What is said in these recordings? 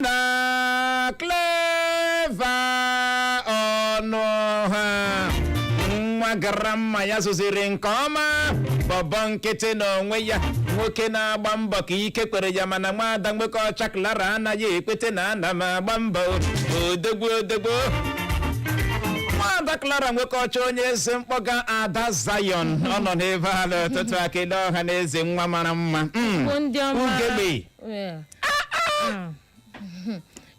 na Clever Ọnụọha nwa grandma ya zụziri nke ọma bọbọ nkịtị n'onwe ya nwoke na-agba mbọ ka ike kwere ya mana nwaada Nwokeọcha Clara anaghị ekwete na ana m agba mbọ odegwu odegwu nwaada Clara Nwokeọcha onye eze mkpọga ada zion ọ nọ n'ebe a n'ụtụtụ a ekele ọha na eze nwa mara mma Mm. Igbo ndị ọma ugegbe Yeah. Ah.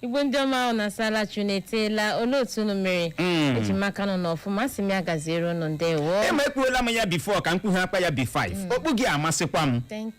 Igbo ndị ọma unu asaala chi unu eteela olee otu unu mere Mm. eji m aka n'unu nọ ọfụma asị m ya gaziere unu ndewo ema ekwuola m ya before ka m kwughakwa ya b5 okpu gị amasịkwa m Thank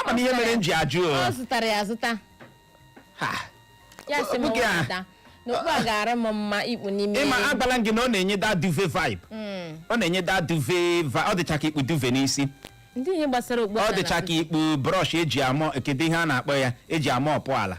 ama m ihe mere m ji ajụ o. ọ zụtara ya azụta Ha. ya sị m Nwoke a. wepụta na okpu a ga-ara m mma ikpu n'ime ịma agwala m gị na ọ na-enye that duvet vibe Mm. ọ na-enye that duvet vibe ọ dịcha ka ikpu duvet n'isi ndị ihe gbasara okpu ọ a dịcha na- ka ikpu brush eji amọ kedu ihe a na-akpọ ya eji amọọpụ ala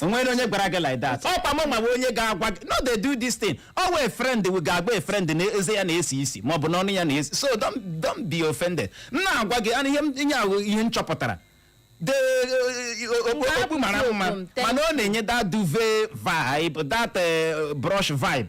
onwere onye gwara gị like that ọkwa m nwa onye ga-agwa gị no dey do this thing ọ wụ a friend ga-agwa a friend na eze ya na-esi isi ma ọ bụ n'ọnụ ya na-esi so don't don't be offended m na-agwa gị ana ihe m- ihe ahụ ihe m chọpụtara the okpu mara mma Thank mana ọ na-enye that duvet vibe that eh, brush vibe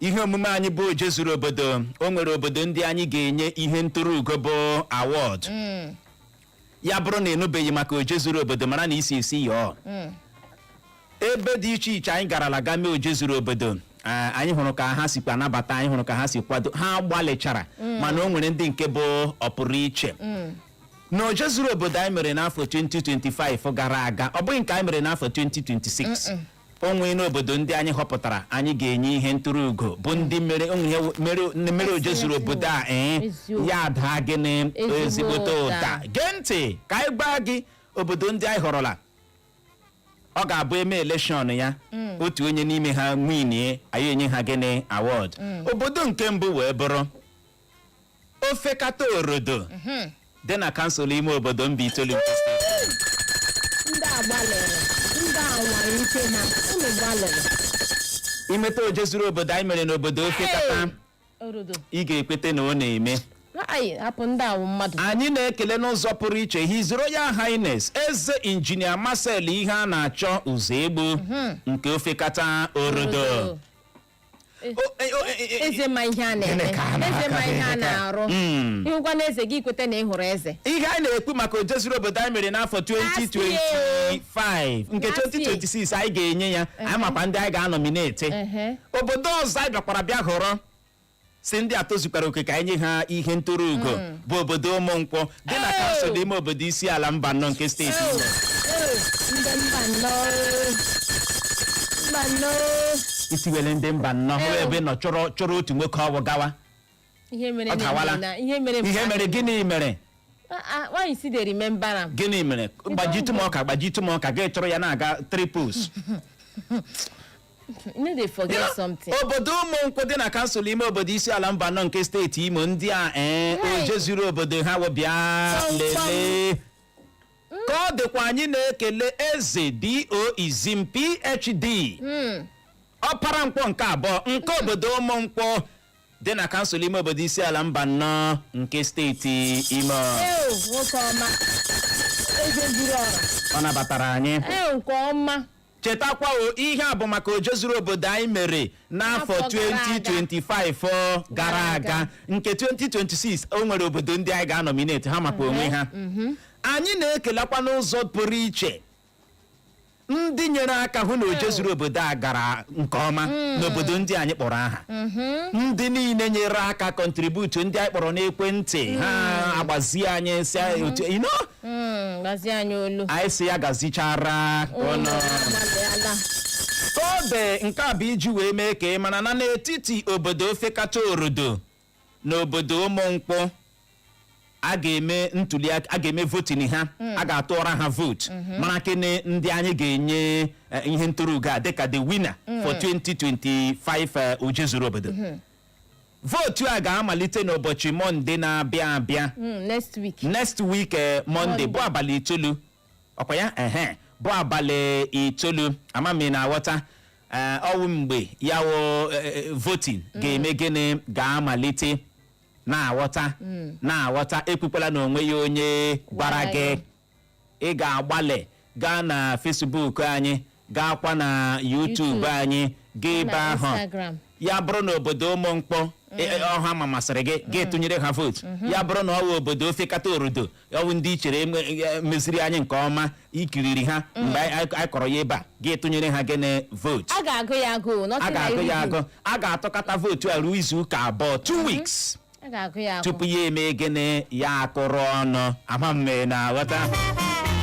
ihe omume anyị bụ oje zuru obodo o nwere obodo ndị anyị ga-enye ihe ntụrụ ugo bụ award ya bụrụ na ịnụbeghị maka oje zuru obodo mara na isi isi yọọ ebe dị iche iche anyị garala ga mee oje zuru obodo eh, anyị hụrụ ka ha sikwa nabata anyị hụrụ ka ha si kwado ha gbalịchara mana o nwere ndị nke bụ ọpụrụ iche na oje zuru obodo anyị mere n'afọ 2025 gara aga ọ bụghị nke anyị mere n'afọ 2026 o nweena obodo ndị anyị họpụtara anyị ga-enye ihe ntụrụ ugo bụ ndị mere o nwee ihe mere mere oje zuru obodo a ee Eziokwu. ya adaa gịnị Ezigbo ezigbote ụda ụda. gee ntị ka anyị gwa gị obodo ndị anyị họrọla ọ ga-abụ eme election ya otu onye n'ime ha winie anyị enye ha gịnị award obodo nke mbụ wee bụrụ ofekata orodo dị na kansụl ime obodo Mbaitoli nke steeti ndị a gbalịrị ndị a nwara ike ha unu gbalịrị imeta oje zuru obodo anyị mere n'obodo ofekata orodo ị ga-ekweta na ọ na-eme anyị hapụ ndị a wụ mmadụ anyị na-ekele n'ụzọ pụrụ iche His Royal Highness eze injinia Marcel Iheanachọ Ụzọegbu nke ofekata orodo Orodo. O- e- o- e- e- eze ma ihe a na-eme Gịnị ka a na-aka eze ma ihe a gị? na-arụ Mm. ịhụkwa na eze gị kweta na ị hụrụ eze ihe anyị na-ekwu maka ojezuru obodo anyị mere n'afọ 2025 nke Last year. 2026 anyị ga-enye ya anyị makwa ndị anyị ga-anọmineti Ehe. obodo ọzọ anyị bịakwara bịa họrọ sị ndị a tozukwara oke ka anyị nye ha ihe nturu ugo bụ obodo Ụmụnkwọ dị na kansụl ime obodo Isiala Mbanọ nke steeti Imo. ndị Mbanọ Mbanọ isiwele ndị Mbanọ hụ ebe nọ chọrọ chọrọ otu nwoke ọwụ gawa ihe mere Ọ dawala. na- na- ihe mere ihe mere gịnị mere Ah, ah, why you still dey remember am gịnị mere gbajitụ m ọka gbajitụ m ọka gị chọrọ ya na-aga triples you no dey forget something. obodo Ụmụnkwọ dị na kansụl ime obodo Isiala Mbanọ nke steeti Imo ndị a ee Hey. ojezuru obodo ha wụ bịa Kpam, kpam. lelee ka ọ dịkwa anyị na-ekele Eze D.O. Izim PhD Hmm. Ọpara Nkwọ nke abụọ nke obodo Ụmụnkwọ dị na kansụl ime obodo Isiala Mbanọ nke steeti Imo Ew, nwoke ọma. Eze zuru ọra. ọ nabatara anyị Ew, nke ọma. Chetakwa o, ihe a bụ maka ojezuru obodo anyị mere n'afọ N'afọ gara aga. 2025 gara aga nke 2026 o nwere obodo ndị anyị ga-anọminate ha maka onwe ha anyị na-ekelekwa n'ụzọ pụrụ iche ndị nyere aka hụ na ojezuru obodo a gara nke ọma n'obodo ndị anyị kpọrọ aha ndị niile nyere aka kọntributu ndị anyị kpọrọ n'ekwentị ha agbazie anyị si anyị otu you know, Mm, gbazie anyị olu anyị si ya gazichara unu agbalịala kode nke a bụ iji wee mee ka ị mara na n'etiti obodo Ofekata Orodo na obodo Ụmụnkwọ a ga-eme ntuli aka a ga-eme voting ha a ga-atụọra ha vootu mara kene ndị anyị ga-enye eh, ihe nturu ugo a dịka the winner for 2025 eh, ojezuru obodo vootu a ga-amalite n'ụbọchị mọnde na-abịa abịa Mm, next week next week eh, mọnde Monday. bụ abalị itoolu ọ kwa ya ehe bụ abalị itoolu ama m ị na-aghọta eh, ọ wụ mgbe ya wụ eh, eh, voting ga-eme gịnị ga-amalite na-aghọta na-aghọta ekwukwala na o nweghị onye gwara Gwara gị ya. ị ga-agbalị gaa na Facebook anyị gaakwa na YouTube YouTube. anyị gaa ebe na ahụ Instagram. ya bụrụ na obodo Ụmụnkwọ e- e- ọ ha ma masịrị gị gị tụnyere ha vootu ya bụrụ na ọ wụ obodo Ofekata Orodo ọ wụ ndị i chere eme- e- meziri anyị nke ọma i kiriri ha mgbe anyị anyị- anyị kọrọ ya ebe a gị tụnyere ha gịnị vootu a ga-agụ ya agụ a nothing ga-agụ like ya you. agụ a ga-atụkata vootu a ruo izu ụka abụọ two weeks a ga-agụ ya agụ tupu ya eme gịnị ya akụrụ ọnụ ama m ma ị na-aghọta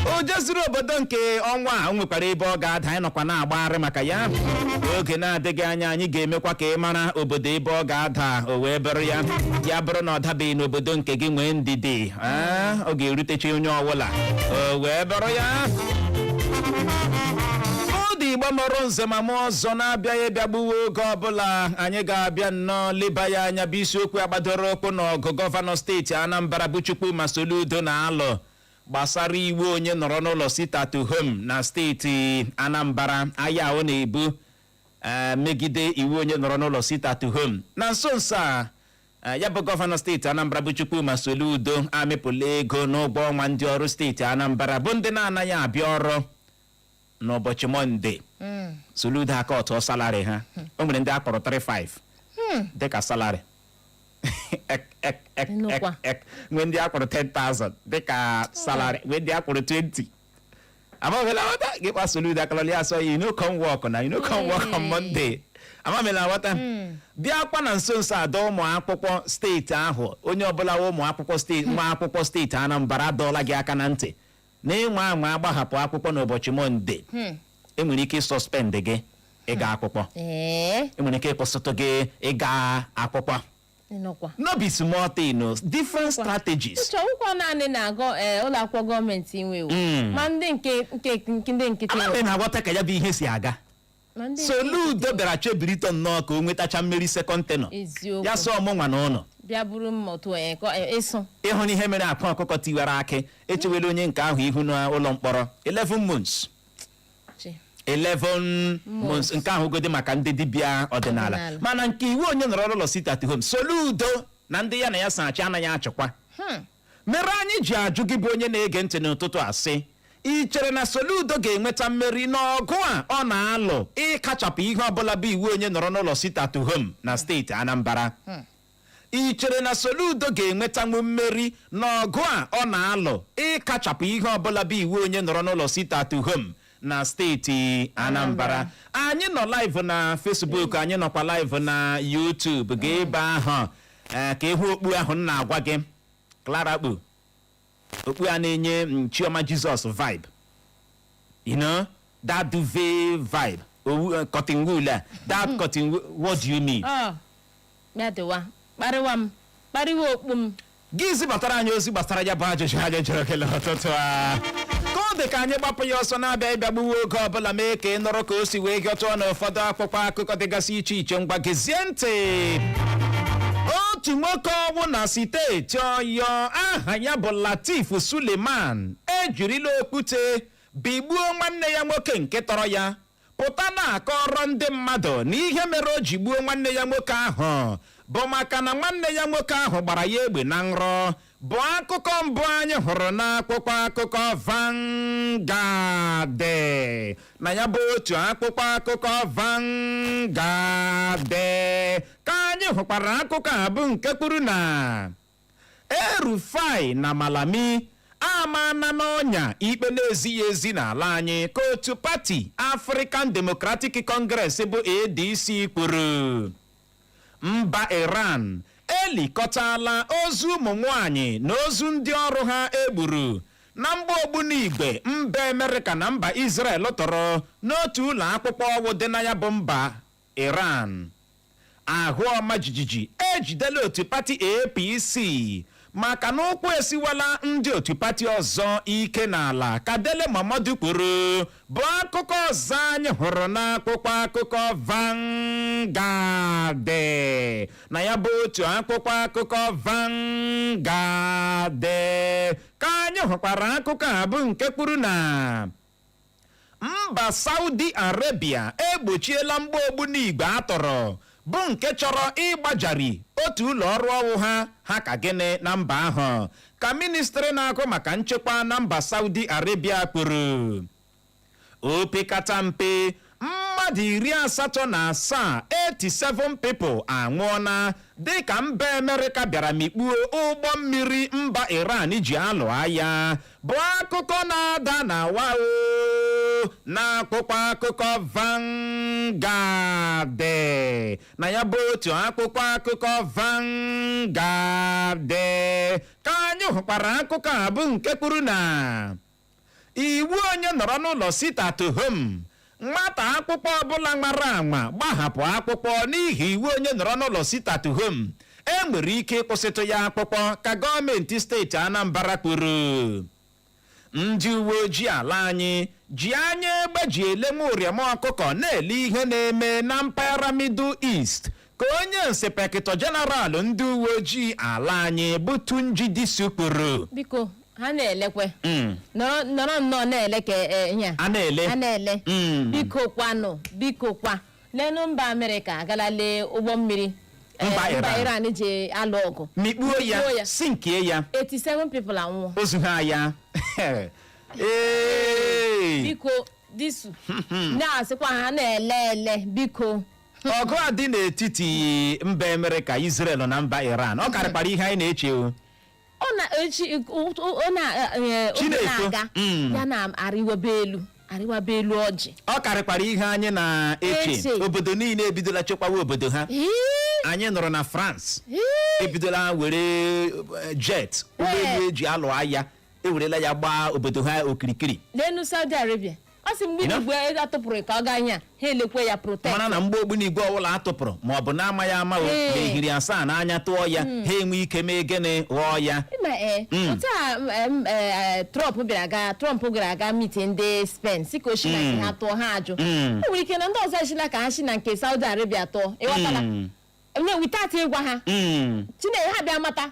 o jezuru obodo nke ọnwa a o nwekwara ebe ọ ga-ada anyị nọkwa na-agbagharị maka ya oge na-adịghị anya anyị ga-emekwa ka ị mara obodo ebe ọ ga-ada o wee bụrụ ya ya bụrụ na ọ dabeghị n'obodo nke gị nwee ndidi Ee, ọ ga-erutecha onye ọbụla o wee bụrụ ya ndị igbo mụrụ nze ma mụọ ọzọ na-abịaghị ịbịa gbuwe oge ọbụla anyị ga-abịa nnọọ leba ya anya bụ isiokwu a gbadoro ụkwụ n'ọgụ gọvanọ steeti anambra bụ chukwuma soludo na-alụ gbasara iwu onye nọrọ n'ụlọ sit at home na steeti anambra aya ọ na-ebu ee, megide iwu onye nọrọ n'ụlọ sit at home na nso nso a ya bụ gọvanọ steeti anambra bụ chukwuma soludo amịpụla ego n'ụgwọ ọnwa ndị ọrụ steeti anambra bụ ndị na-anaghị abịa ọrụ n'ụbọchị mọnde soludo aka ọtụọ salari ha o nwere ndị a kwụrụ 35 dịka salari nwee ndị a kwụrụ 10,000 dịka salari nwee ndị a kwụrụ 20 ama m ma ị na-aghọta gị kpa soludo akalọli asọ you no come work na you no come work on Monday ama m ma ị na-aghọta bịakwa na nso nso a dọọ ụmụ akwụkwọ steeti ahụ onye ọbụla wa ụmụ akwụkwọ steeti nwa akwụkwọ steeti Anambra a dọọla gị aka na ntị na ị nwaa anwa gbahapụ akwụkwọ n'ụbọchị Mọnde e nwere ike ịsuspend gị ịga akwụkwọ ee e nwere ike ịkwụsịtụ gị ịga akwụkwọ ịnọkwa no be small thing o different strategies ịchọ ụkwọ naanị na-agụ ee ụlọ akwụkwọ gọọmenti inwe iwu Mm. ma ndị nke nke nke- ndị nkịtị ama m ma ị na-aghọta ka ya bụ ihe si aga ma ndị soludo bịara chebiritụ nnọọ ka o nwetacha mmeri second tenure eziokwu ya sị ọ mụnwa na ụnụ bịa buru mma otu onye kọ e- ịsụ ị hụnụ ihe mere akwa ọkụkọ tiwara akị e chewela onye nke ahụ ihu n'ụlọ mkpọrọ 11 months Chi. 11 months nke ahụ godi maka ndị dibịa ọdịnala Ọdịnala. mana nke iwu onye nọrọ n'ụlọ sit at home soludo na ndị ya na ya so achị anaghị achịkwa Hmm. mere anyị ji ajụ gị bụ onye na-ege ntị n'ụtụtụ a sị ị chere na soludo ga-enweta mmeri n'ọgụ a ọ na-alụ ịkachapụ ihe ọbụla bụ iwu onye nọrọ n'ụlọ sit at home na steeti anambra I chere na Soludo ga-enwetanwu mmeri n'ọgụ a ọ na-alụ ịkachapụ ihe ọbụla bụ iwu onye nọrọ n'ụlọ sit at home na steeti Anambra? Anyị nọ live na Facebook, anyị nọkwa live na YouTube. Gaa ebe ahụ eh, ka ị hụ okpu ahụ m na-agwa gị Clara kpu. okpu a na-enye m chioma jesus vibe you know that duvet vibe owu eh, cotton wool a that cotton wool what do you need ọ ya dịwa kparịwa m kparịwa okpu m gị zibatara anyị ozi gbasara ya bụ ajụjụ anyị jụrụ gị n'ụtụtụ a ka ọ dị ka anyị gbapụ ya ọsọ na-abịa ịbịa gbuwe oge ọbụla mee ka ị nụrụ ka o si wee hịọtụọ n'ụfọdụ akwụkwọ akụkọ dịgasị iche iche ngwa gezie ntị otu nwoke ọnwụ na steeti ọyọ aha ya bụ latif suleman ejirila okwute bigbuo nwanne ya nwoke nke tọrọ ya pụta na-akọrọ ndị mmadụ na ihe mere o ji gbuo nwanne ya nwoke ahụ bụ maka na nwanne ya nwoke ahụ gbara ya egbe na nrọ bụ akụkọ mbụ anyị hụrụ n'akwụkwọ akụkọ Vanguard na ya bụ otu akwụkwọ akụkọ Vanguard ka anyị hụkwara akụkọ a bụ nke kwuru na El-Rufai na Malami amana n'ọnya ikpe na-ezighị ezi n'ala anyị ka otu pati African Democratic Congress bụ ADC kwuru Mba Iran elikọtala ozu ụmụ nwaanyị na ozu ndị ọrụ ha e gburu na mgba ogbunigwe mba Amerịka na mba Izrel tọrọ n'otu ụlọ akwụkwọ ọwụ dị na ya bụ mba Iran. Ahụ ọma jijiji ejidela otu pati APC maka na ụkwụ esiwala ndị otu pati ọzọ ike n'ala ka Dele Momodu kwuru bụ akụkọ ọzọ anyị hụrụ n'akwụkwọ akụkọ Vanguard na ya bụ otu akwụkwọ akụkọ Vanguard ka anyị hụkwara akụkọ a bụ nke kwuru na Mba Saudi Arabia egbochiela mgba ogbunigwe a tọrọ bụ nke chọrọ ịgbajari otu ụlọ ọrụ ọwụ ha ha ka gịnị na mba ahụ ka ministri na-ahụ maka nchekwa na mba Saudi Arabia kwuru opekata mpe mmadụ iri asatọ na asaa 87 people anwụọna dịka mba Amerịka bịara mikpuo ụgbọ mmiri mba Iran ji alụ agha bụ akụkọ na-ada na wao n'akwụkwọ akụkọ Vanguard na ya bụ otu akwụkwọ akụkọ Vanguard ka anyị hụkwara akụkọ a bụ nke kwuru na Iwu onye nọrọ n'ụlọ sit at home, Nwata akwụkwọ ọbụla nwara anwa gbahapụ akwụkwọ n'ihi iwu onye nọrọ n'ụlọ sit at home, e nwere ike ịkwụsịtụ ya akwụkwọ, ka gọọmenti steeti Anambra kwuru. Ndị uweojii ala anyị ji anya egbe ji ele nwa ụrịọm ọkụkọ na-ele ihe na-eme na mpaghara Middle East ka onye inspektọ jeneral ndị uwe ojii ala anyị bụ Tunji Disu kwuru biko ha na-elekwe Mm. nọrọ nọrọ nnọọ na-ele ka eh, ihe a. a na-ele a na-ele Mm. biko kwanụ biko kwa lenu mba amerịka agala lee ụgbọ mmiri eh, Mba Iran. iran ji alụ ọgụ mikpuo Mikpuo ya ya. sinkie ya 87 people anwụọ ozu ha ya Ee. biko disu na-asịkwa ha na-ele ele biko ọgụ a dị n'etiti mba Amerịka Israel na mba Iran ọ karịkwara ihe anyị na-eche o ọ na echi ọ na eh, oge Chineke. na-aga Mm. ya na-arịwaba elu arịwaba elu ọjị ọ karịkwara ihe anyị na-eche Eche. obodo niile ebidola chekwawa obodo ha Ee, anyị nụrụ na France ee, ebidola were eh, jet ụgbọelu eji alụ agha ewerela ya gbaa obodo ha okirikiri n'elu saudi arabia ọ sị mgbe Ina? igwe ego atụpụrụ ka ọ gaa ihe a ha elekwe ya protect mara na mgbọ ogbunigwe ọbụla a tụpụrụ ma ọ bụ na-amaghị ama o Ee. na e hiri asaa n'anya tụọ ya ha enwe ike mee gịnị ghọọ ya ma ee Mm. otu a m, em, ee, trump bịara aga trump gara aga meet ndị spain sị ka o shi na nke ha tụọ ha ajụ Mm. o nwere ike na ndị ọzọ eshila ka ha si na nke saudi arabia tụọ ịghọtala Mm. nye without ịgwa ha Mm. chineke ha bịa mata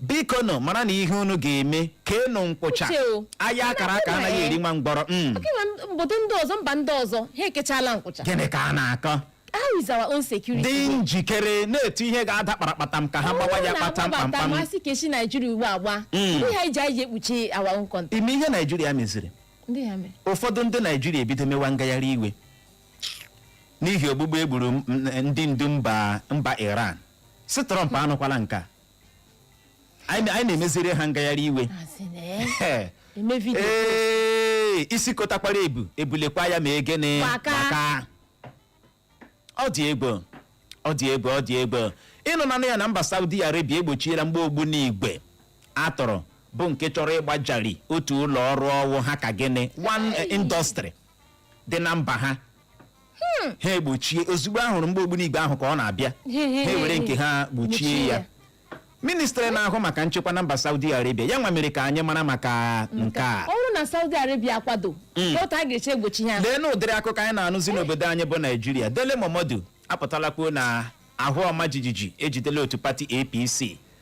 biko nụ maranụ ihe unu ga-eme keenụ nkwụcha Uche o. aya a kara aka Nna, anaghị eh. eri nwa ngwọrọ Mm. Oke nwa m- obodo ndị ọzọ mba ndị ọzọ ha ekechala nkwụcha gịnị ka a na-akọ how is our own security dị njikere na-etu ihe ga-ada kparakpatam ka ha gbawa ya kpata mkpamkpam masị ka esi naijiria ugbu agba Mm. ndị ha iji anyị ji ekpuchi our own country ị ma ihe naijiria meziri ndị ha mere ụfọdụ ndị naijiria ebido mewa ngagharị iwe n'ihi ogbugbu egburu m- m- ndị ndu mba mba iran sị Trump anụkwala nke a anyị anyị na-emeziri ha ngagharị iwe Asị na ya Ee, eme vidio ee, isi kotakwara ebu ebulekwa ya ma egene Gbaka. gbaka. ọ dị egwu ọ dị egwu ọ dị egwu ị nụnanụ ya na mba saudi arabia egbochiela mgbọ ogbunigwe a tụrụ bụ nke chọrọ ịgbajari otu ụlọ ọrụ ọ wụ ha ka gịnị one eh, industry dị na mba ha hmm. ha egbochie ozugbo a hụrụ mgbọ ogbunigwe ahụ ka ọ na-abịa ha ewere nke ha gbochie ya ministrị na-ahụ maka nchekwa na mba Saudi Arabia ya nwa mere ka anyị mara maka nke a ọ bụrụ na Saudi Arabia akwado hmm. otu a ga-eshi egbochi ya leenụ ụdịrị akụkọ anyị na-anụzi n'obodo anyị bụ Naijiria Dele Momodu apụtala kwuo na ahụ ọma jijiji ejidela otu pati APC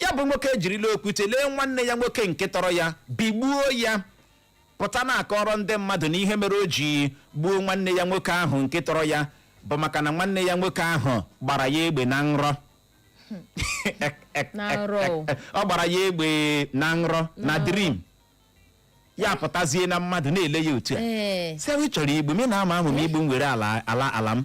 Ya bụ nwoke ejirila okwute lee nwanne ya nwoke nke tọrọ ya bigbuo ya pụta na-akọrọ ndị mmadụ na ihe mere o ji gbuo nwanne ya nwoke ahụ nke tọrọ ya bụ maka na nwanne ya nwoke ahụ gbara ya egbe na nrọ Na nrọ o. ọ gbara ya egbe na nrọ na dream ya apụtazie na mmadụ na-ele ya otu a ee sị ị chọrọ igbu m ị na-ama ahụ m igbu m were ala ala ala m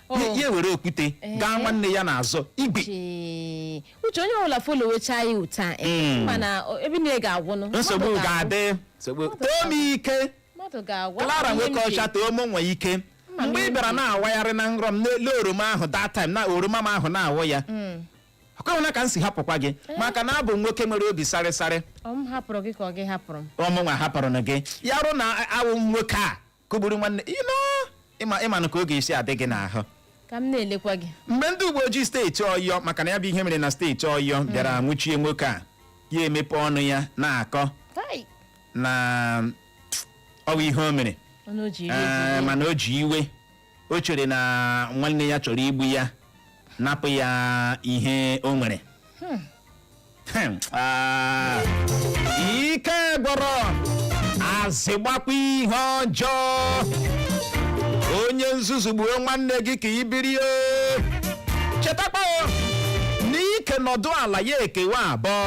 o Ya- ya were okwute Ee. gaa nwanne ya n'azụ igwe chee. uche onye ọbụla folowechaa ya otu a ee, Mm. mana o- ebe niile ga-agwụnụ nsogbu Mmadụ ga-agwụ. ga-adị nsogbu too m ike mmadụ ga-agwa Clara ihe nwoke m ji- ọcha too m nwe ike Mma m mgbe ị bịara na-awagharị na nrọ m n'elu oroma ahụ that time na oroma m ahụ na-awụ ya Mm. ọkwa ịhụna ka m si hapụkwa gị maka na abụ m nwoke nwere obi sarịsarị ọ m hapụrụ gị ka ọ gị hapụrụ m ọmụnwa hapụrụ na gị ya rụ na awụ m nwoke a kụgburu nwanne ịnọ ịma ịmanụ ka ọ ga-esi adị gị n'ahụ ka m na-elekwa gị mgbe ndị uwe ojii steeti ọyọ maka na ya bụ ihe mere na steeti ọyọ bịara nwụchie nwoke a ya emepe ọnụ ya na-akọ tai na ọwa ihe o mere ọnụ o ji eri Ee, ji ede. mana o ji iwe o chere na nwanne ya chọrọ igbu ya napụ ya ihe o nwere Hmm, ah, ike gwụrụ azị gbakwa ihe ọjọọ onye nzuzu gbuo nwanne gị ka i biri o. chetakwa o, na ike nọdụ ala ya ekewa abụọ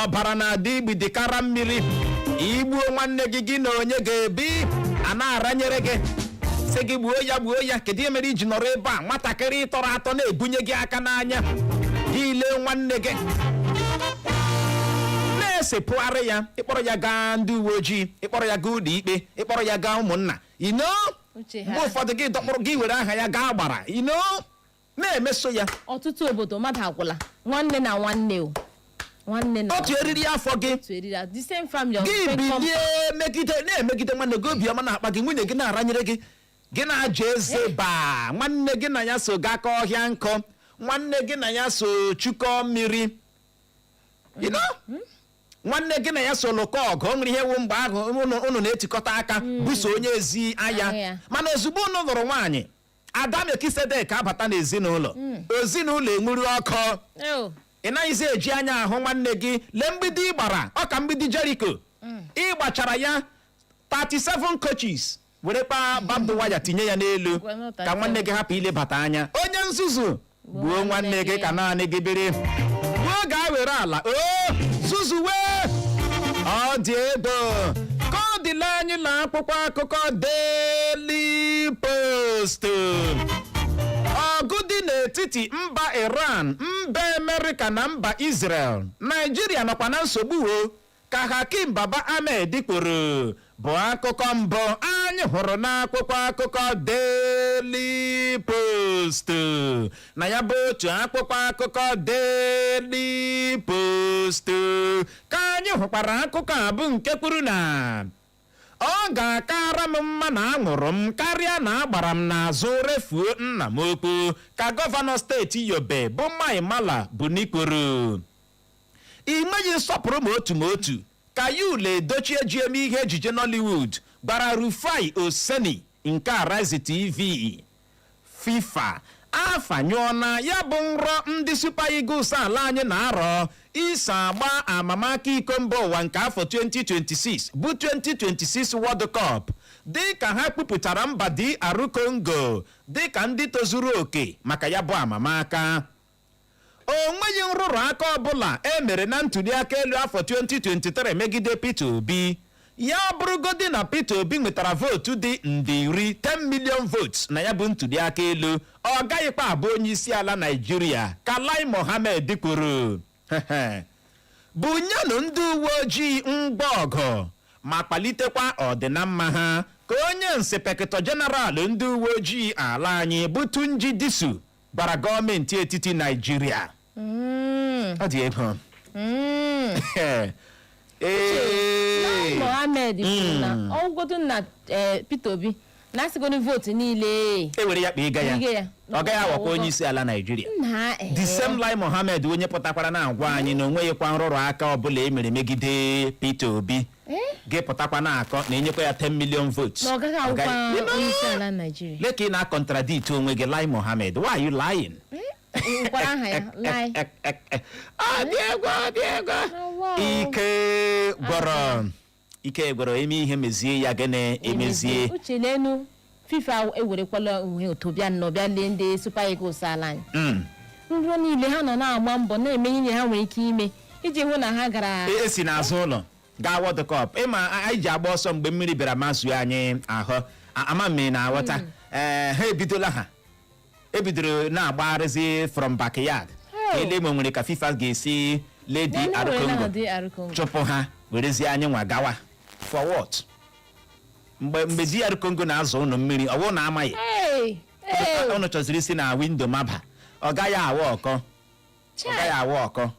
ọbara na-adị igbidi kara mmiri igbuo nwanne gị gị na onye ga-ebi a na-aranyere gị sị gị gbuo ya gbuo ya kedu ihe mere iji nọrọ ebe a nwatakịrị ị tọrọ atọ na-ebunye gị aka n'anya gị lee nwanne gị na-esepụgharị ya ịkpọrọ ya gaa ndị uwe ojii ịkpọrọ ya gaa ụlọ ikpe ịkpọrọ ya gaa ụmụnna you know Uche ha. mgbe ụfọdụ gị dọkpụrụ gị were aha ya gaa agbara you know na-emeso ya ọtụtụ obodo mmadụ agwụla nwanne na nwanne o nwanne na otu eriri afọ gị otu eriri a- the same family of gị same company. bilie megide na-emegide nwanne gị obiọma na-akpa gị nwunye gị na-aranyere gị gị na-aja eze baa nwanne gị na ya so gakọ ọhịa nkụ nwanne gị na ya so chukọ mmiri you know? nwanne gị na ya so lụkọ ọgụ o nwere ihe wụ mgbe ahụ unu unu na-etikọta aka buso onye ezi Agha agha ya. mana ozugbo unu lụrụ nwaanyị Ada Melkizedek abata n'ezinụlọ, hmm. ezinụlọ enwuru ọkụ. Oh. Ị naghịzi eji anya ahụ nwanne gị lee mgbidi ị gbara ọ ka mgbidi Jeriko. Hmm. Ị gbachara ya 37 coaches were kpaa barbed wire tinye ya n'elu ka nwanne gị hapụ ilebata anya. Onye nzuzu gbuo nwanne gị ka naanị gị biri gbuo gaa were ala o zuzuwe ọ dị egwu ka ọ dịla anyị na akwụkwọ akụkọ Daily Post ọgụ dị n'etiti mba Iran mba Amerịka na mba Israel Naijiria nọkwa na nsogbu o ka Hakeem Baba Ahmed kwuru bụ akụkọ mbụ anyị hụrụ n'akwụkwọ akụkọ Daily Post na ya bụ otu akwụkwọ akụkọ Daily Post ka anyị hụkwara akụkọ a bụ nke kwuru na ọ ga-akara m mma na anwụrụ m karịa na agbara m n'azụ refuo nna m ukwu ka gọvanọ steeti Yobe bụ Mai Mala Buni kwuru I nweghị nsọpụrụ ma otu ma otu, ka Yul Edochie ji eme ihe ejije Nollywood gwara Rufai Oseni nke Arise TV. Fifa afanyụọla ya bụ nrọ ndị Super Eagles ala anyị na-arọ iso agba amamaka iko mba ụwa nke afọ 2026 bụ 2026 World Cup dịka ha kwupụtara mba DR Congo dịka ndị tozuru oke maka ya bụ amamaka. O nweghị nrụrụ aka ọbụla e mere na ntuliaka elu afọ 2023 megide Peter Obi. Ya bụrụgodi na Peter Obi nwetara vootu dị nde iri, 10 million votes, na ya bụ ntuliaka elu, ọ gaghịkwa abụ onyeisiala Naịjirịa, ka Lai Mohammed kwuru. Bunyenụ ndị uwe ojii ngwa ọgụ ma kwalitekwa ọdịnamma ha, ka onye Inspector General ndị uwe ojii ala anyị bụ Tunji Disu gwara gọọmenti etiti Naịjirịa Mm, ọ dị egwu mm. Ee. Lai Mohammed kwuru na ọ wụgodu na eh, Peter Obi na a sịgodu vootu niile e were ya kpa ịga ya Ịga ya. ọ gaghị awụkwa onye isi ala Naịjirịa na eh, the same Lai Mohammed onye pụtakwara na-agwa anyị na o nweghịkwa nrụrụ aka ọbụla e mere megide Peter Obi Eh? gị pụtakwa na-akọ na e nyekwa ya 10 million votes na ọ gaghị Ọ gaghị- awụkwa You know? onye isi ala Naịjirịa Lee ka ị na-acontradict onwe gị Lai Mohammed why are you lying? nkwara aha ya Lai Ek, ek, ek. Ọ dị egwu ọ dị egwu Awa o. ike gwụrụ ike gwụrụ e mee ihe mezie ya gịnị emezie uche n'enu FIFA ewerekwala onwe ụtụ bịa nnọọ bịa lee ndị Super Eagles ala anyị Mm. nrọ niile ha nọ na-agba mbọ na-eme ihe ha nwere ike ime iji hụ na ha gara E- esi n'azụ ụlọ gaa World Cup ị ma a- anyị ji agba ọsọ mgbe mmiri bịara mazue anyị ahụ A- ama m na aghọta ee ha ebidola ha ebidoro na-agbagharịzi from backyard Oh. ele ma e nwere ka FIFA ga-esi lee Ndị were na DR Congo DR Congo chụpụ ha werezie anyị nwa gawa for what mgbe mgbe DR Congo na-azụ ụnụ mmiri ọ bụrụ na amaghị Hey, hey, ụnụ chọziri isi na window maba ọ gaghị a-work ọ chai. gaghị a-work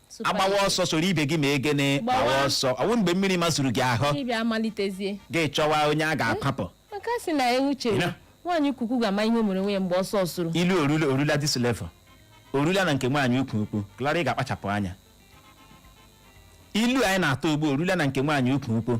Super a gbawa Eagles. ọsọ soro ibe gị mee gịnị Gbawa. gbawa ọsọ ọ bụ mgbe mmiri mazuru gị ahụ Ị bịa malitezie. gị chọwa onye a ga-akwapụ Maka a sị na ewu chere. Ina. Nwaanyị ukwu ukwu ga-ama ihe o mere onwe ya mgbe ọsọ sụrụ. ilu o rula o rula this level o rula na nke nwaanyị ukwu ukwu Glory ga-akpachapụ anya ilu anyị na-atụ ugbu a o rula na nke nwaanyị ukwu ukwu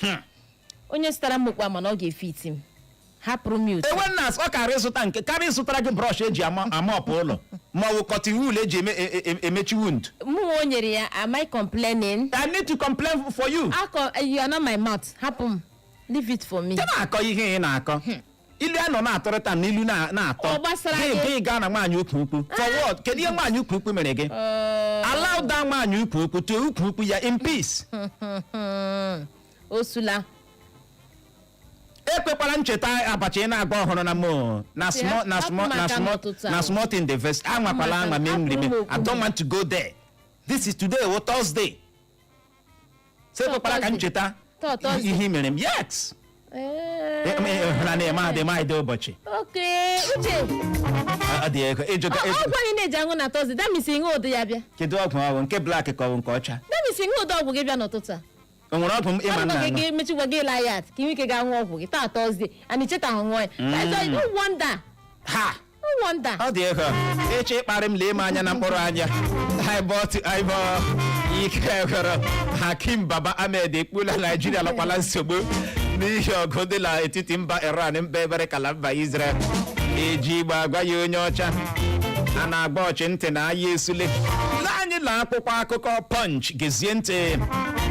Hmm. onye zụtara m okpu a ma na ọ ga-efit m hapụrụ m ya otu ewe nna ọ kaara zụta nke kaara zụtara gị brush e ji a- a-mop ụlọ ma ọ bụ cotton wool e ji eme- e- e- e- emechi wound mụ nwa o nyere ya am I complaining I need to complain for you akọ you are not my mouth hapụ m leave it for me ị na-akọ ihe ị na-akọ ilu a nọ na-atụrịta na ilu na- na-atọ Ọ gbasara gị gị. gị gaa na nwaanyị ukwu ukwu for what kedu ihe nwaanyị ukwu ukwu mere gị Ee, allow that nwaanyị ukwu ukwu to ukwu ukwu ya in peace osula ekwekwala m cheta abacha ị na-agba ọhụrụ na mo na Ya, small na hapụ small na maka small n'ụtụtụ na ahụ. small thing dey vex anwakwala Maka anwa na mee nri hapụrụ m mee okwu m. I don't want to go there this is today wụ thursday so ekwekwala ka m cheta ihe i mere m yes hụra na-eme adị m adị ụbọchị ọgwụ gị ị na-eji aṅụ na tọzde that means ị ṅụdị ya bịa kedu ọgwụ ọ bụ nke black ka ọ bụ nke ọcha that means ị ṅụdị ọgwụ gị bịa n'ụtụtụ a o nwere ọgwụ m ịma nna gị mechikwa gị ịla ya ka ị nwee ike ga-aṅụ ọgwụ gị taa tọzde ana icheta ahụ nwa ya wonder ha No wonder. ọ dị ego ị chọọ ịkparị m lee m anya na mkpụrụ anya eyeball to eyeball ike gwụrụ hakeem baba ahmed ekwuola naijiria nọkwa na nsogbu n'ihi ọgụ dị n'etiti mba iran mba amerịka na mba israel eji igbo agwa ya onye ọcha a na-agwa ochi ntị na aya esule lee anyị na akwụkwọ akụkọ punch gezie ntị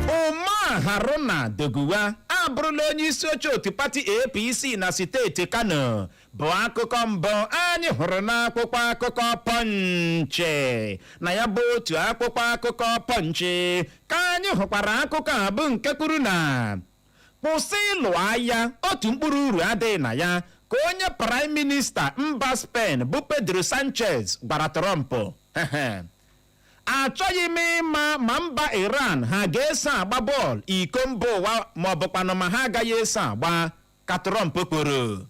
umar haruna doguwa abụrụla onye isi oche otu pati apc na steeti kano bụ akụkọ mbụ anyị hụrụ n'akwụkwọ akụkọ pọnchị na ya bụ otu akwụkwọ akụkọ pọnchị ka anyị hụkwara akụkọ a bụ nke kwuru na kwụsị ịlụ agha otu mkpụrụ uru adịghị na ya ka onye praịm minista mba spen bụ pedro sanchez gwara trump achọghị m ịma ma mba iran ha ga-eso agba bọọlụ iko mba ụwa ma ọ bụkwanụ ma ha agaghị eso agba ka Trump kwuru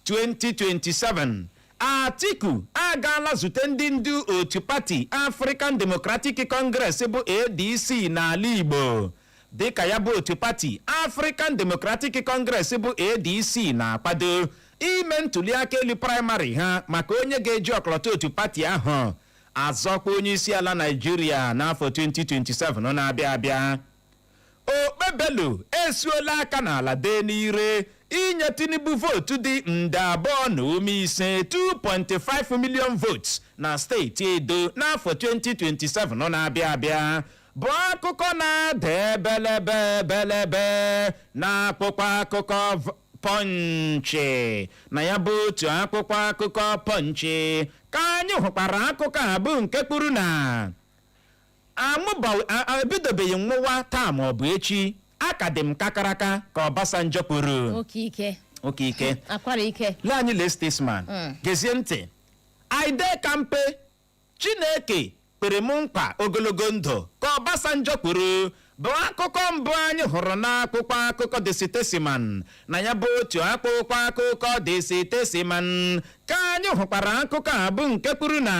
2027 Atiku agaala zute ndị ndu otu pati African Democratic Congress bụ ADC n'ala Igbo dịka ya bụ otu pati African Democratic Congress bụ ADC na-akwado ime ntuliaka elu praịmarị ha maka onye ga-eji ọkọlọtọ otu pati ahụ azọkwa onye isi ala Naijiria n'afọ 2027 na-abịa abịa Okpebholo esuola aka n'ala dee n'ire inye Tinubu vootu dị nde abụọ na ụma ise, 2.5 million votes, na steeti Edo n'afọ 2027 na-abịa abịa bụ akụkọ na-ada ebelebe ebelebe n'akwụkwọ akụkọ Pọnchị. Na ya bụ otu akwụkwọ akụkọ Pọnchị ka anyị hụkwara akụkọ a bụ nke kwuru na Anwụbaghị a- a- ebidobeghị nwụwa taa ma ọ bụ echi a ka dị m kakaraka ka Obasanjo kwuru oke ike oke ike akwara ike lee anyị lee statesman Mm. gezie ntị I dey kampe chineke kwere m nkwa ogologo ndụ ka Obasanjo kwuru bụ akụkọ mbụ anyị hụrụ n'akwụkwọ akụkọ The Statesman na ya bụ otu akwụkwọ akụkọ The Statesman ka anyị hụkwara akụkọ a bụ nke kwuru na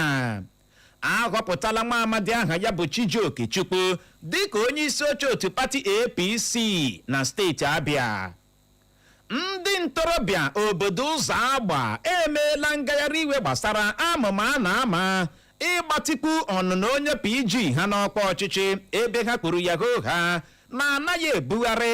ahọpụtala nwa amadi aha ya bụ Chijioke Chukwu dịka onye isi oche otu pati APC na steeti Abịa ndị ntorobịa obodo Ụzọagba emeela ngagharị iwe gbasara amụma a na-ama ịgbatịkwu ọnụnọ onye PG ha n'ọkwa ọchịchị ebe ha kwuru ya hoohaa na anaghị ebugharị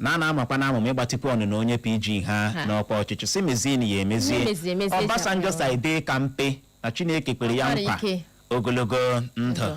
na a na-amakwa n'amụma ịgbatịkwu ọnụnọ onye PG ha Ha. n'ọkwa ọchịchị sị mezienụ ya Ihe emezie meziri emezie ji Obasanjo akpọrọ. sị I dey kampe na Chineke kwere ya Akwara nkwa ike. ogologo ndụ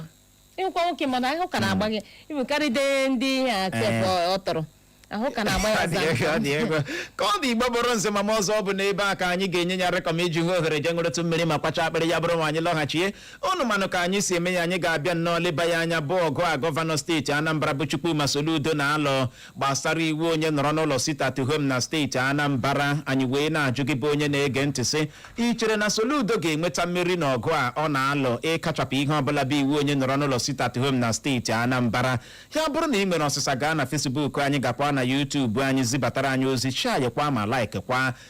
ịhụkwa nwoke mana ahụ ka na-agba gị ịbụkarịde ndị a tep ọ tọrọ ahụ ka na-agba ya Ọ dị ego, ọ dị zaa ego. ka ọ dị igbo mụrụ nze ma mụọ ọzọ ọ bụ n'ebe a ka anyị ga-enye ya rekọm iji hụ ohere jee ṅụrụtụ mmiri ma kwacha akpịrị ya bụrụ ma anyị lọghachie unu manụ ka anyị si eme ya anyị ga-abịa nnọọ leba ya anya bụ ọgụ a gọvanọ steeti anambra bụ chukwuma soludo na-alụ gbasara iwu onye nọrọ n'ụlọ sit at home na steeti anambra anyị wee na-ajụ gị bụ onye na-ege ntị sị ị chere na soludo ga-enweta mmeri na ọgụ a ọ na-alụ ịkachapụ ihe ọbụla bụ iwu onye nọrọ n'ụlọ sit at home na steeti anambra ya bụrụ na ị nwere ọsịsa gaa na Facebook anyị gakwa na YouTube anyị zibatara anyị ozi shareekwa ma likeekwa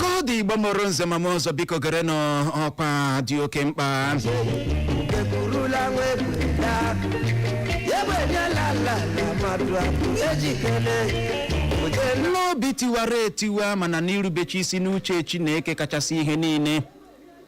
ka ọ dị igbo mụrụ nze ma mụọ ọzọ biko gerenụ ọkwa dị oke mkpa eburula nwa ebula egbenyela ala na mmadụ abụ ejikere oje n'obi tiwara etiwa mana n'irubechi isi n'uche chineke kachasị ihe niile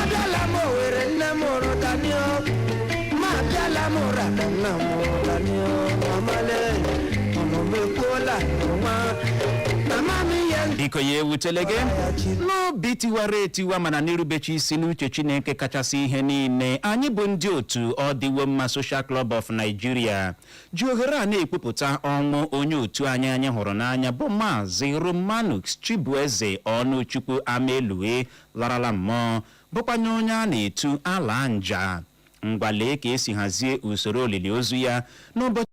Abịala m Owerri nne m mụrụ Dani o. Ma abịala m ụra na nna m mụrụ Dani o. Mamale, ọnụ m ekwuola n'ụwa. Mama m ihe ndị biko ya ewutele gị ya chi. n'obi tiwara etiwa mana n'irubechi isi n'uche chineke kachasị ihe niile anyị bụ ndị otu Ọdịwomma social club of nigeria ji ohere a na-ekwupụta ọnwụ onye otu anyị anyị hụrụ n'anya bụ Maazị Romanus Chibueze Ọnụchukwu Amaelue larala mmụọ bụkwanye onye a na-etu ala nja ngwa lee ka e si hazie usoro olili ozu ya n'ụbọchị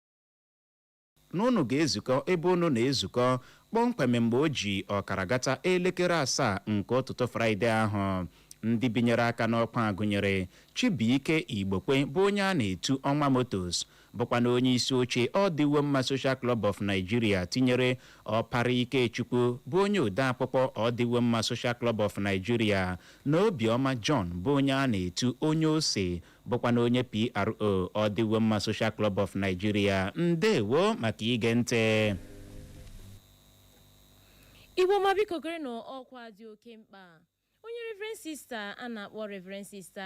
na unu ga-ezukọ ebe unu na-ezukọ kpọmkwem mgbe o ji ọkara gata elekere asaa nke ụtụtụ Fraịde ahụ. Ndị binyere aka n'ọkwa a gụnyere Chibuike Igbokwe bụ onye a na-etu Ọnwa Motos bụkwanụ onye isi oche Ọdịwomma Social Club of Nigeria tinyere Ọpara Ikechukwu bụ onye odeakwụkwọ Ọdịwomma Social Club of Nigeria na Obiọma John bụ onye a na-etu Onye Ose bụkwanụ onye PRO Ọdịwomma Social Club of Nigeria ndewo maka ige ntị igbo ọma biko gerenụ ọkwa dị oke mkpa onye reverend sista a na-akpọ reverend sista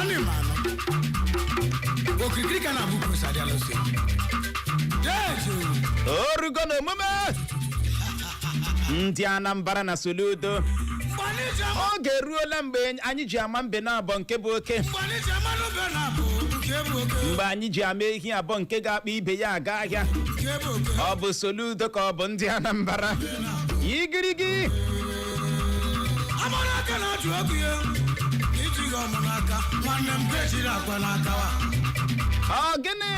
anịmanụ okirikiri ka a na-agba ukwu ose adị alụsi dejo o rugo na omume ndị anambra na soludo mgbe anyị ji ama oge eruola mgbe anyị ji ama mbe na abọ nke bụ oke mgbe anyị ji ama mbe na abọ nke bụ oke mgbe anyị ji ama ehi abọ nke ga-akpa ibe ya aga ahịa nke bụ oke ọ bụ soludo ka ọ bụ ndị anambra igirigi amara aka na-atụ ọkụ ya iji gị ọmụ n'aka nwanne m ka ejiri akwa n'aka wa ọ gịnị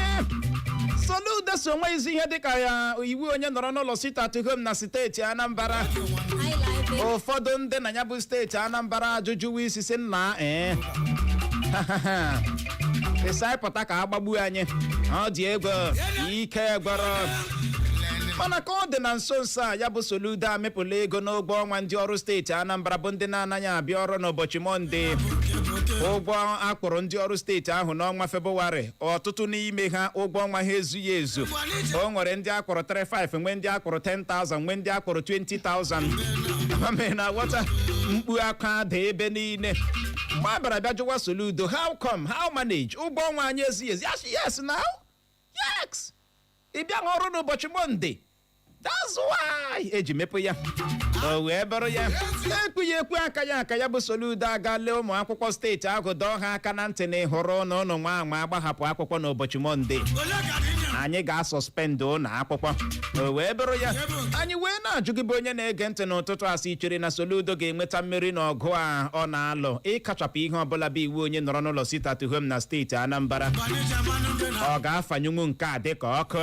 soludo sị o nweghịzi ihe dịka ya iwu onye nọrọ n'ụlọ sit at home na steeti anambra ụfọdụ ndị na ya bụ steeti anambra ajụjụwa isi sị nna ee ị sị anyị pụta ka a gbagbuo anyị ọ dị egwu ike gwụrụ mana ka ọ dị na nso nso a ya bụ Soludo amịpụla ego n'ụgwọ ọnwa ndị ọrụ steeti Anambra bụ ndị na-anaghị abịa ọrụ n'ụbọchị Mọnde ụgwọ a kwụrụ ndị ọrụ steeti ahụ n'ọnwa Febụwarị ọtụtụ n'ime ha ụgwọ ọnwa ha ezughị ezu o nwere ndị a kwụrụ 35 nwee ndị a kwụrụ 10,000 nwee ndị a kwụrụ 20,000 ama m na aghọta mkpu akwa ada ebe niile niile mgbe a bịara bịa jụwa soludo how come how manage ụgwọ ọnwa anyị ezughị ezu a sị yes na yes ị bịa ọrụ n'ụbọchị monde that's why e ji mịpụ ya o wee bụrụ ya ekwughị ekwu akaghị aka ya bụ soludo aga lee ụmụ akwụkwọ steeti ahụ dọọ ha aka na ntị na ịhụrụ na ụnụ nwa anwa gbahapụ akwụkwọ n'ụbọchị monde anyị ga-asọspendụ ụlọ akwụkwọ o wee bụrụ ya anyị wee na-ajụ gị bụ onye na-ege ntị n'ụtụtụ a sị i chere na Soludo ga-enweta mmeri n'ọgụ a ọ na-alụ ịkachapụ ihe ọbụla bụ iwu onye nọrọ n'ụlọ sit at home na steeti Anambra Gbanyeja mmanụ dị na ọ ga-afanyụnwu nke a dịka ọkụ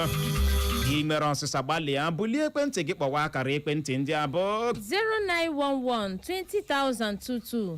ị mere ọsịsa gbalịa bulie ekwentị gị kpọwa akara ekwentị ndị a bụ 0911 20022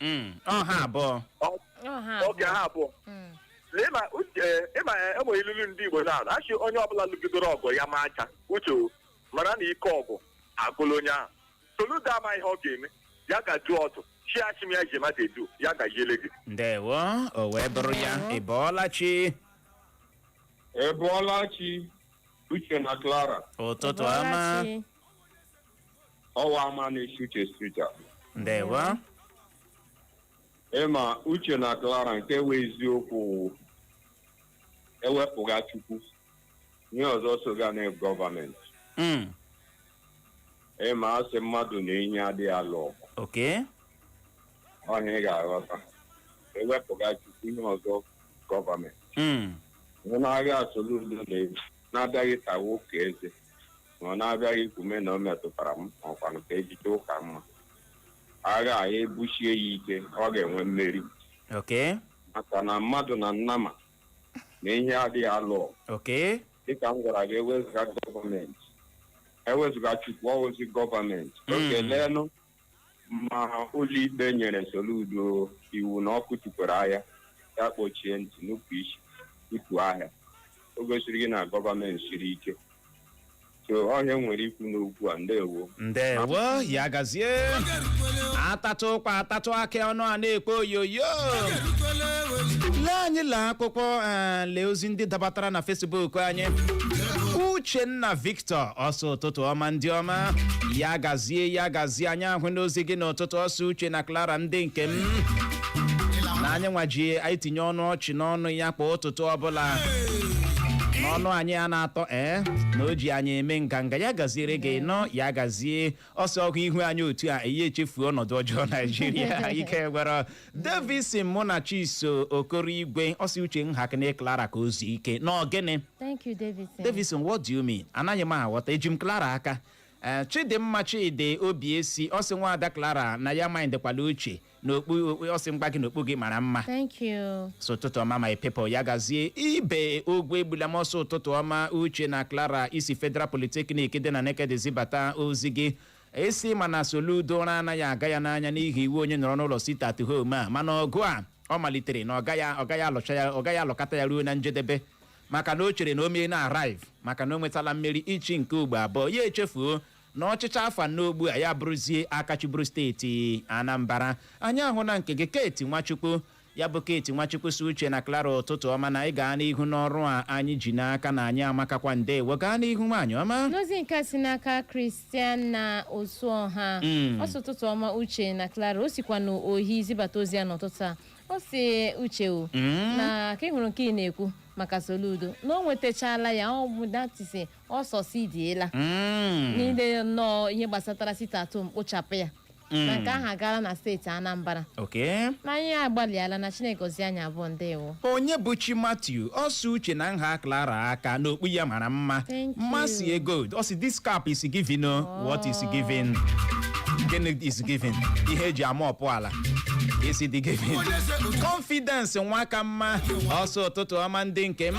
Mm, ọ ha abụọ okay ha abụọ Mm. na ịma uche ịma eh, e nwe ilulu ndị igbo na a sị onye ọbụla lụgidoro ọgụ ya ma aja uche o, mara na ike ọgụ agụla onye ahụ soludo ama ihe ọ ga-eme ya ga jụọ otu e si achị m ya ji mmadụ edu ya gaziere gị ndewo o wee bụrụ ya Ndewo. ị bọọla chi ị bọọla chi Uche na Clara. ụtụtụ ọma Ọlachi. ọwa ama na-esi uche street a ndewo ịma uche na clara nke wụ eziokwu wụ ewepụga chukwu ihe ọzọ soga na gọọmenti Mm, ịma a sị mmadụ na enyi adịghị alụ ọgụ okay ọ ihe ị ga-aghọta ewepụga chukwu ihe ọzọ gọọmenti Mm, onye na-agwa Soludo na-eji na-abịaghị tawa ụka eze na ọ na-abịaghị ikume na o metụtara m ọkwanụ ka ejije ụka mma agha a ya busie ya ike ọ ga-enwe mmeri Okay. maka na mmadụ na nnama na enyi adịghị alụ ọgụ. Okay. dịka m gwara gị ewezụga gọọmenti ewezụga chukwu ọ wụzi gọọmenti Mm. okay leenụ ma ụlọikpe nyere Soludo iwu na ọ kụtukwala ahịa ya kpọchie ntị nupụ isi kụtuo ahịa o gosiri gị na gọọmenti siri ike so ọ ihe m nwere ikwu n'okwu a ndewo ndewo ya gazie atatụ ụkwa atatụ akị ọnụ a na-ekpo oyoyo lee anyị lee akwụkwọ eh, lee ozi ndị dabatara na Facebook anyị uchenna victor Tọ ọ sị ụtụtụ ọma ndị ọma ya gazie ya gazie anyị ahụna ozi gị n'ụtụtụ ọ sị uche na Clara ndị nke m na anyị nwa ji anyị tinye ọnụ ọchị n'ọnụ ya kwa ụtụtụ ọbụla na ọnụ anyị a na-atọ ee na o ji anyị eme nganga ya gaziere gị nnọọ ya gazie ọ sị ọ hụ ihu anyị otu a ya echefuo ọnọdụ ọjọọ naijiria ike gwụrụ davison munachiso okorigwe ọ sị uche hapụnụ clara ka o zuo ike n'ọ gịnị Thank you, Davison. Davison, what do you mean? Anaghị m aghọta eji m Clara aka Eh, Chidimma Chidi Obiesi ọ sị nwaada Clara na ya mindịkwala uche na okpu okpu- ọ sị mgba gị na okpu gị mara mma Thank you. ọ sị ụtụtụ ọma my people ya gazie ibe ogwuegbulam ọ sị ụtụtụ ọma uche na clara i si federal polytechnic dị na nekede zibata ozi gị ị sị mana soludo ụra anaghị aga ya n'anya n'ihi iwu onye nọrọ n'ụlọ sit at home a mana ọgụ a ọ malitere na ọ gaghị ọ gaghị alụcha ya ọ gaghị alụkata ya ruo na njedebe maka na o chere na o meena arrive maka na o nwetala mmeri ịchị nke ugbo abụọ ya echefuo na ọchịchị afọ anọ ugbu a ya bụrụzie aka chịburu steeti anambra anyị ahụna nke gị kate nwachukwu ya bụ kate nwachukwu sị uche na clara ụtụtụ ọma na anyị gaa n'ihu n'ọrụ a anyị ji n'aka na anyị amakakwa ndewo gaa n'ihu nwaanyị ọma n'ozi nke a si n'aka christiana osuọha Mm. ọ sị ụtụtụ ọma uche na clara o sikwa n'ohi zibata ozi ya n'ụtụtụ a ọ sị uche o Mm. na ka ị hụrụ nke ị na-ekwu maka soludo na o nwetachala ya ọ bụ that is ọ succeediela Mm. niile nnọọ ihe gbasatara sit-at-home kpochapụ ya Mm. na nke ahụ agaala na steeti anambra Okay. na anyị agbalịala na chineke gozie anyị abụọ ndewo onyebuchi matthew ọ sị uche na nha clara aka n'okpu ya mara mma Thank you. mmasị ego ọ sị this cap is giving o what is giving gịnị is giving ihe e ji ama ọpụ ala isi dị gị confidence Nwakamma ọ sị ụtụtụ ọma ndị nke m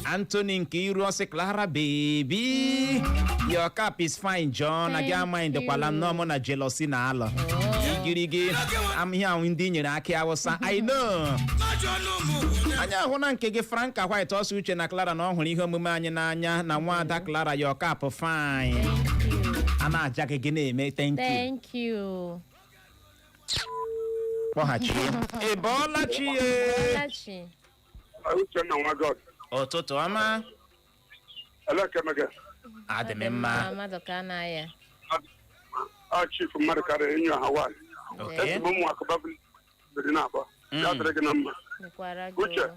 Anthony Nkeiru ọ sị Clara baby your cap is fine John na gị Thank amaghị dịkwala you. nnọọ mụ na jealousy na alọ igirigi am- ihe ahụ ndị i nyere akị awụsa I know anyị ahụna nke gị franka white ọ sị uche na clara na ọ hụrụ ihe omume anyị n'anya na nwaada clara your cap fine a na-aja gị gị na-eme thank you Thank you. kpọghachi ya ị bọọla chi ya Ọlachi. Uchenna nwa God. ụtụtụ ọma Elekemege. adị m mma Mmadụ ka na ya. A chief mmadụ karịa enyi ọha nwaanyị. oke Ezigbo ụmụ akụba biri na-abọ. Ya dịrị gị na mma. Dịkwara gị. Uche. o.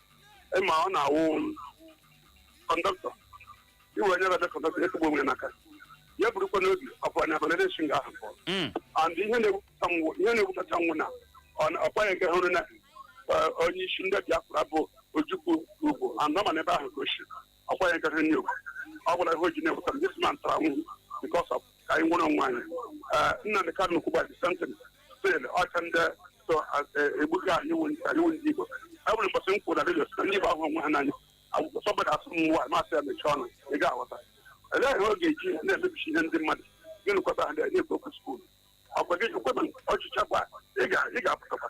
ịma ọ na-awụ kọndọktọ iwe onye ga-abịa kọndọktọ ya kegbu onwe ya n'aka ya burukwa n'obi ọ bụ anya abana na-esi nga ahụ pụọ Mm. and ihe na-ewuta m wụ ihe na-ewutacha m wụ na ọ- ọkwa ya nke hụrụ na eh, onye isi ndị Biafra bụ Ojukwu ugwu and ọ ma na ebe ahụ ka o si ọkwa ya gafe n'okwu ọ gwara ihe o ji na-ewuta m this man tara nwụ because of ka anyị nwere onwe anyị Eh, Nnamdi Kanu kwuba the same thing still ọcha ndị so egbuga anyị wụ ndị anyị wụ ndị Igbo e nwere mbọsị m kwuru na redio na ndị Igbo ahụ onwe ha n'anya akwụkwọ somebody asị m nwa m asị ya mechie ọnụ ị ga-aghọta elee ihe ọ ga-eji na-emebichi ihe ndị mmadụ gịnị kwata ha na-ekwu okwu skuul ọkwa gị kweta ọchịchị akwa ị ga- ị ga-apụtakwa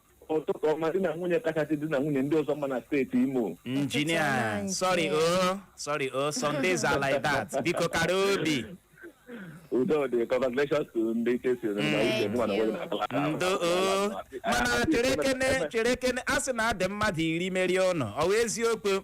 ụtụtụ ọma di na nwunye kachasị di na nwunye ndị ọzọ mma na steeti imo injinia Ụtụtụ sorry ọma, o sorry o sundays are like that biko kara obi udo dị congratulations to ndị Chelsea na Mm. uche mụ na nwere na akala aka. ndo o mana cherekene cherekene a sị na ha dị mmadụ iri merie ụnụ ọ wụ eziokwu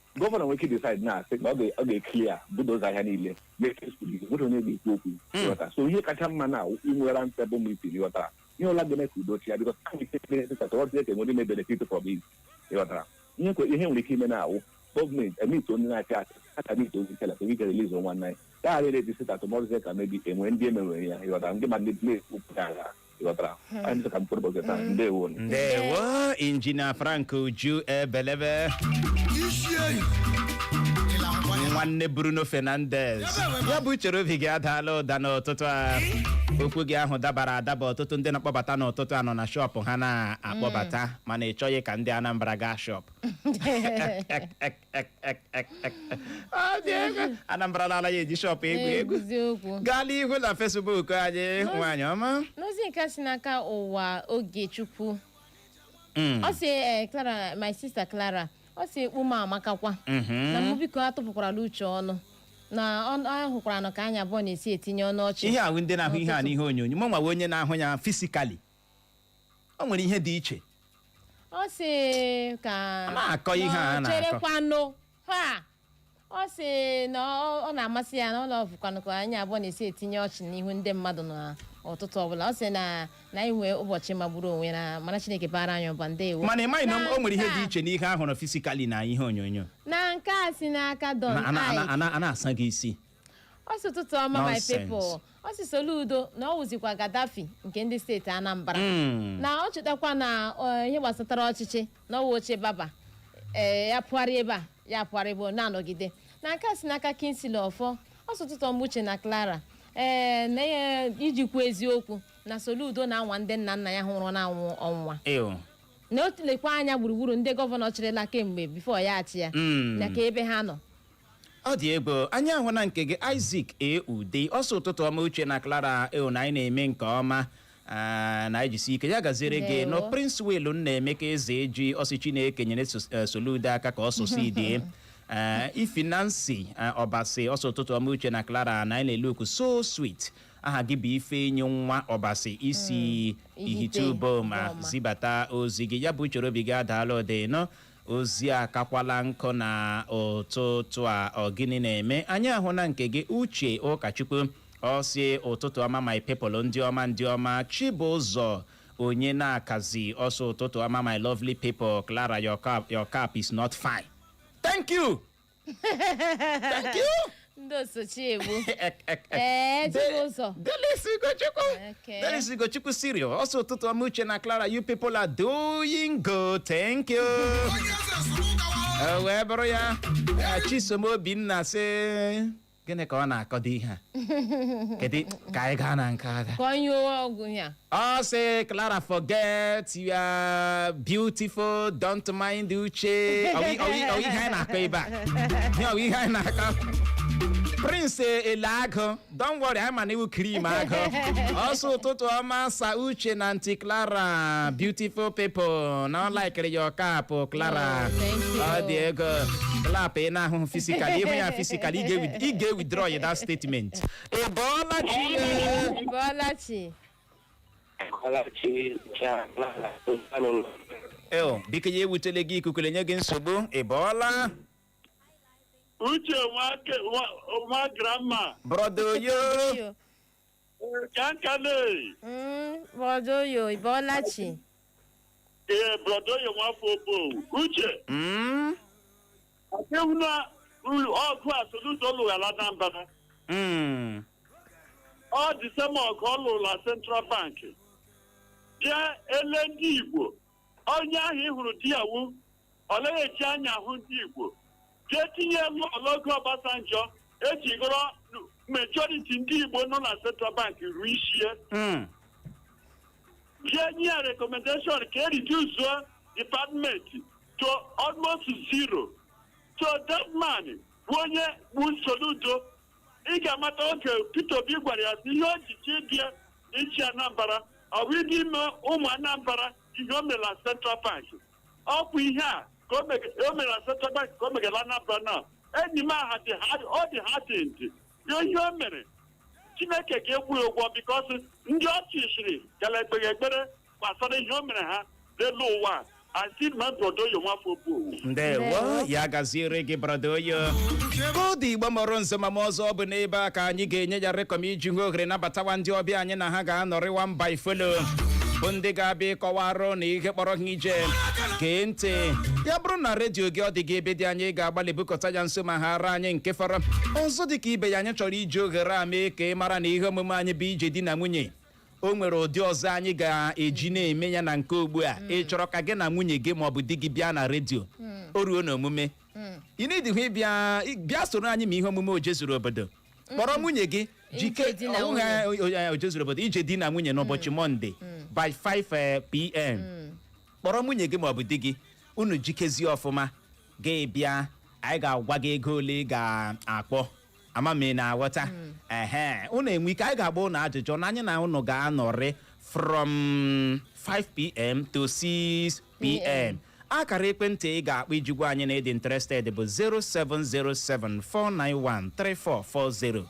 gọvanọ nwere ike decide na-asị na ọ ga- ọ ga-eklia bulldoze ahịa niile mepee skuul izu nwere onye ga-ekwu okwu ịghọta so ihe kacha mma na inwe round table meeting ị ghọtara ihe ọbụla ga-eme ka udo chịa bikọs a ga-ete benefit atọ ọdị eke nwere ime benefit from it ị ghọtara ihe kwe- ihe nwere ike ime na-awụ gọọmenti emit onye na-achị achị a ka mit ozi kela ka ike release nwa nna ya gagharịrị ejisita atụmọrụzi ka mebi enwe ndị emerụrụ ya ị ghọtara ndị ma ndị na-ekwu pụta ala ị ghọtara anyị sị ka m kwuru ụbọchị taa ndewo unu. ndewo injinia frank uju ebelebe i si ihiala ngwa ya nwanne bruno fernandes ya bụ uche obi gị adaala ụda n'ụtụtụ a okwu gị ahụ dabara adaba ọtụtụ ndị na-akpọbata n'ụtụtụ a nọ na shọpụ ha na-akpọbata mana ị chọghị ka ndị anambra gaa shọpụ Ek, ek, ek, ek. Ọ dị egwu. anambra anaghị eji shọpụ egwu egwu eziokwu gaa n'ihu na fesbuk anyị nwaanyị ọma n'ozi nke a si n'aka ụwa ogechukwu Mm, ọ sị eh, clara my sister clara ọ sị okpu m amakakwa mhm. na mụ biko atụpụkwara uche ọnụ na ọ ọ hụkwara na ka anyị abụọ na-esi etinye ọnụ ọchị n'ihu ndị na-ahụ ihe a n'ihe onyonyo mụ nwa wụ onye na-ahụ ya fisikali o nwere ihe dị iche ọ sị ka a na-akọ ihe a a na-akọ. cherekwanụ ha ọ sị na ọ ọ na-amasị ya na ọ lọvụkwanụ ka anyị abụọ na-esi etinye ọchị n'ihu ndị mmadụ na ụtụtụ ọbụla ọ sị na na anyị nwee ụbọchị magburu onwe na mma chineke bara anyị ụba ndewo mana ị maghị na o nwere ihe Na dị nke a- iche n'ihe a hụrụ fisikali na ihe onyonyo na nke a si n'aka don Na- ana- ana- Ike. ana- a na-asa gị isi ọ sị ụtụtụ ọma my Nonsense. people ọ sị soludo na ọ wụzikwa gadafi nke ndị steeti anambra Mm. na ọ chetakwa na eh, ihe gbasatara ọchịchị na ọ wụ oche baba ee ya pụgharị ebe a ya pụgharị ebe ọ na-anọgide na nke a si n'aka kingsley ọfọ ọ sị ụtụtụ ọma uche na clara ee na iji kwuo eziokwu na soludo na-anwa ndị nna nna ya nwụrụ anwụ ọnwụnwa Ew. na o lekwa anya gburugburu ndị gọvanọ chịrịla kemgbe bifo ya achịa Mm. na ka ebe ha nọ ọ dị egwu anyị ahụna nke gị Isaac ude ọ sị ụtụtụ ọma uche na Clara eo na anyị na-eme nke ọma Ah, na ejisi ike ya gaziere gị na princewill nnaemeka ezeji ọ sị chineke nyere eh, soludo aka ka ọ succeed eh, ify nancy eh, ọbasi ọ sị ụtụtụ ọma uche na clara na anyị na-eluku so sweet aha gị bụ ifeyinwa ọbasi i si mm, ihitte uboma zibata ozi gị ya bụ uche obi gị adaala ụda na Ozi a kakwala nkụ na ụtụtụ a ọ gịnị na-eme anyị ahụna nke gị uche ụkachukwu ọ sị ụtụtụ ọma my people ndị ọma ndị ọma chibụzọ onyenakazi ọ sị ụtụtụ ọma my lovely people clara your cap, your cap is not fine thank you Thank you. ndị osochi egbu ee chibụzọ Delis Ugochukwu. Okay. Delis Ugochukwu sịrị o. Ọ sị ụtụtụ ọma uche na Clara, you people are doing good. Thank you. O wee bụrụ ya. Chisom Obinna sị. gịnị ka ọ na-akọdị ihe a kedu ka anyị gaa na nke agha ka ọ nyụọ ọgwụ ya ọ sị clara forget you are beautiful don't mind uche Ọ bụ- ọ bụ- ọ bụ ihe anyị na-akọ ebe a Ihe ọ bụ ihe anyị na-akọ Prince Eleagụ don't worry anyị ma na ị wụ cream agụ ọ sị ụtụtụ ọma sir Uche na aunty clara beautiful people na ọ laikiri your cap clara Oh, thank you. ọ dị ego klap ị na-ahụ physical ị hụ ya physical si kala ị ga-ewithdraw ya that statement ị bọọla chi bọọla chi eo biko ya ewutele gị ikuku na-enye gị nsogbu ị bọọla uche nwa grandma brọda oyo kankane Mm, brọda Oyo, ị bọọla chi. ee brọda oyo nwafọ Obowo uche Mm, adịghị na uru ọgụ a soludo lụgha la anambra mm, ọ dị same ọgụ ọ lụrụ na central bank bịa ele ndị igbo onye ahụ ị hụrụ di ya wu ọ naghị eji anya ahụ ndị Igbo jee tinye elu n'oge Obasanjọ eji gụrọ majority ndị Igbo nọ na Central Bank ruo ishi e Mm. jee nye ya recommendation ka e reduce department to almost zero so that man bụ onye bụ Soludo ị ga-amata oge Peter Obi gwara ya sị ihe o ji chi bịa ịchị Anambra ọ bụ ịdị ime ụmụ Anambra ihe o mere na Central Bank ọ bụ ihe a ka o mege- o mere na Central Bank ka o mega na Anambra now enyi m ahụ dị ha ọ dị hardened o ihe o mere Chineke ga-akwụ ya ụgwọ because ndị ọ chụshịrị ka na-ekpe ekpere gbasara ihe o mere ha n'elu ụwa a si ma brọda Oyo nwafọ Obowo ndewo Ndewo. ya gaziere gị brọda Oyo koodu igbo mụrụ nso ma ma ọzọ ọ bụ n'ebe a ka anyị ga-enye ya rekọm iji hụ ohere nabatawa ndị ọbịa anyị na ha ga-anọrịwa mba ifolo bụ ndị ga-abịa ịkọwarụ unu ihe kpọrọ ha ije gee ntị ya bụrụ na redio gị ọ dị gị ebe dị anya ị ga-agbalị bukọta ya nso ma hara anyị nke fọrọ ọzọ dị ka ibe ya anyị chọrọ iji ohere a mee ka ị mara na ihe omume anyị bụ ije di na nwunye o nwere ụdị ọzọ anyị ga-eji na-eme ya na nke ugbu a ị chọrọ ka gị na nwunye gị maọbụ di gị bịa na redio o ruo na omume ị na-edighị ịbịa ị- bịa soro anyị mee ihe omume ojezuru obodo kpọrọ nwunye gị jike Ije di na ọwụ ha- o- o- ojezuru obodo ije di na nwunye n'ụbọchị mọnde by 5 pm kpọrọ nwunye gị maọbụ di gị unu jikezie ọfụma gị bịa anyị ga-agwa gị ego ole ị ga-akpọ ama m ị na-aghọta ehe unu enwee ike anyị ga-agba unu ajụjụ na anyị na unu ga-anọrị from 5pm to 6pm akara ekwentị ị ga-akpọ iji gwa anyị na ị dị interested bụ 07074913440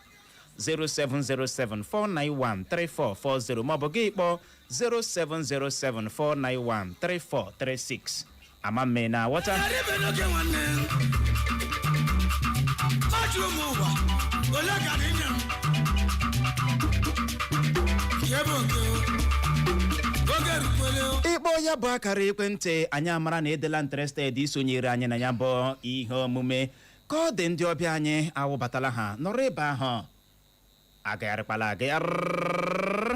07074913440 maọbụ gị kpọọ 07074913436 ama mme na aghọta Ghara ibe n'oke nwanne. Ọ jụrụ m ụwa, ole ka dị nye m? Nke bụ oke o. Oge erukwele o. ịkpọ ya bụ akara ekwentị anyị amara na edela interested isonyere anyị na ya bụ ihe omume ka ọ dị ndị ọbịa anyị awụbatala ha nọrọ ebe ahụ agagharịkwala agagharị